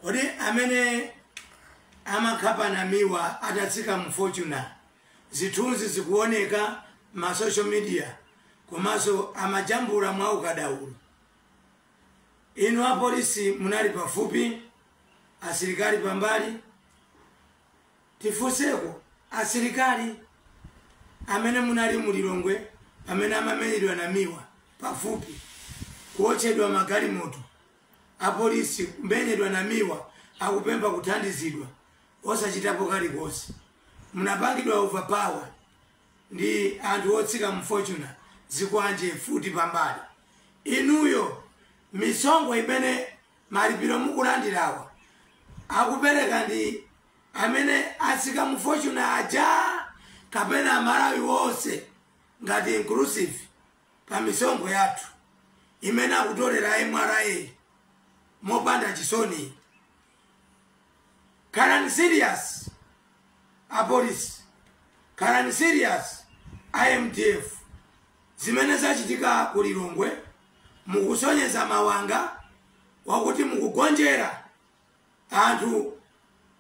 kodi amene amakhapa namiwa atatsika mu fortuner zithunzi zikuoneka ma social media komanso amajambula mwa ukadaulo inu apolisi munali pafupi asilikali pambali tifunseko asilikali amene munali mu lilongwe pamene amamenyedwa namiwa pafupi kuotchedwa magalimoto Apolisi kumenyedwa Namiwa akupempha kuthandizidwa osachitapo kalikonse. Munapangidwa overpower ndi anthu otsika mu Fortuner zikwanje mfuti pambali. Inuyo misonkho imene malipiro mukulandirawa akupereka ndi amene atsika mu Fortuner aja kapena amalawi onse ngati inclusive? pa misonkho yathu imene akutolera a mra mopanda chisoni. Khalani serious apolisi, khalani serious a mdf. Zimene zachitika ku Lilongwe mukusonyeza mawanga wakuti mukugonjera anthu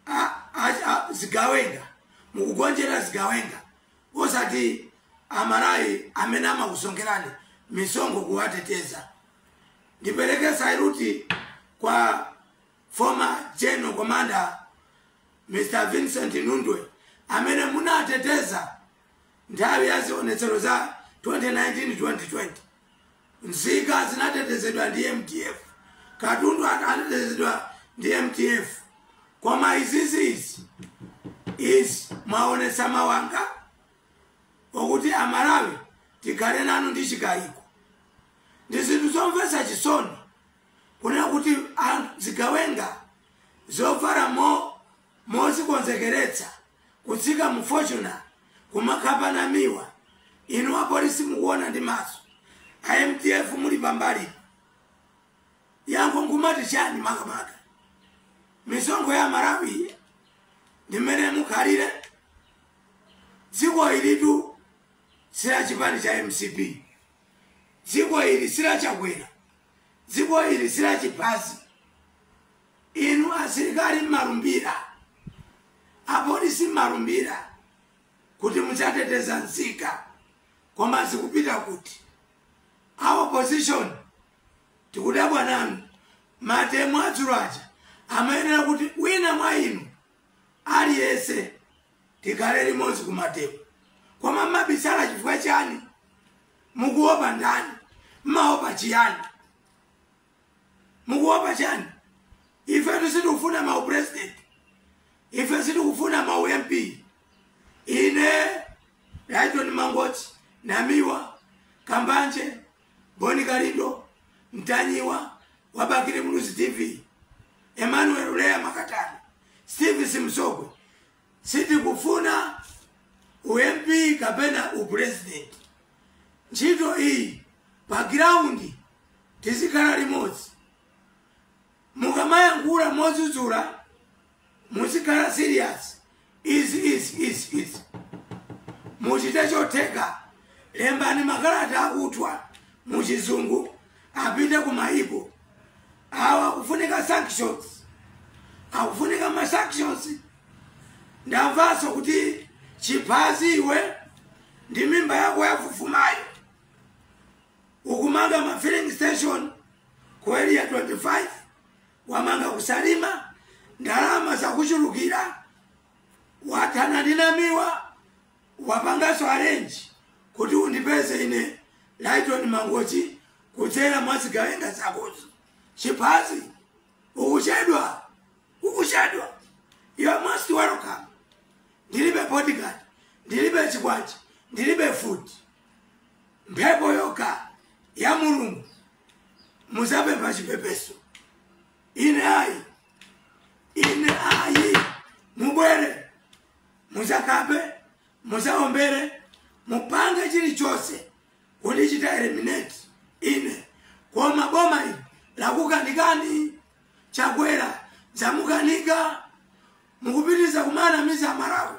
a, a, a zigawenga mukugonjera zigawenga osati amalawi amene amakusonkherani misonkho kuwateteza ndipereke saluti kwa former general commander mr vincent nundwe amene munateteza Nthawi ya zionetsero za 2019 2020, nzika zinatetezedwa ndi mdf, katundu anatetezedwa ndi mdf koma izizi mwaonetsa mawanga okuti amalawi tikhale nanu ndi chikayiko ndi zinthu zomvetsa chisoni kunena kuti anthu zigawenga zovala mo mozikonzekeretsa kutsika mu fortuner kumakhapa namiwa inu apolisi mukuona ndi maso a mdf muli pambalipo yankho nkumati chani makamaka misonkho ya malawi ndi mmene mukhalire dziko ilitu sila chipani cha mcp dziko ili sila chakwera dziko ili sila chiphazi Inu asilikali mmalumbira, apolisi mmalumbira kuti mudzateteza nzika koma zikupita kuti? A opposition tikudabwa nanu. Mademo adzulo aja amayenera kuti wina mwa inu aliyese tikhale limodzi ku mademo koma mmabisala chifukwa chani? Mukuopa ndani? Mmaopa chiyani? mukuopa chani ifetu sitikufuna ma upresident ife sitikufuna ma ump ine lyton mangochi namiwa kambanje boni kalindo mtanyiwa wa bakili muluzi tv emmanuel uleya makatani steve simsogwe sitikufuna ump kapena upresident ntchito iyi pa ground tizikhala limodzi. Mukamayankhula modzudzula muzikhala serious. Iss. Muchite chotheka. Lembani makalata akuthwa mu chizungu apite ku maiko. Awa akufunika sanctions. Akufunika ma sanctions. Ndamvanso kuti chiphazi iwe ndi mimba yako yofufumayo. Ukumanga ma filling station ku area 25, wamanga ku Salima, ndalama zakuchulukira, wathana ndi Namiwa, wapanganso arrange kuti undipeze ine Lyton Mangochi kudzera mwa zigawenga zakozo. Chiphazi, ukuchedwa, ukuchedwa. You are most welcome. Ndilibe bodyguard, ndilibe chikwanje, ndilibe mfuti. mphepo yoka ya mulungu muzapepha chipepeso ine ayi ine ayi mubwere muzakhape muzaombere mupange chilichonse kundichita eliminate ine koma boma ili lakukanikani chakwera zamukanika mukupitiriza kumanamiza amalawi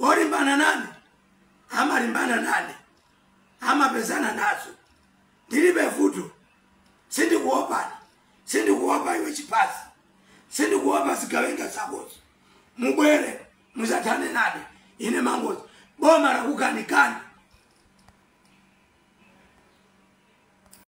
olimbana nane amalimbana nane amapezana nazo ndilibe vuto sindikuopani sindikuopa iwe chiphazi sindikuopa zigawenga zakozo mubwere muzathane nane ine mangochi boma lakukanikani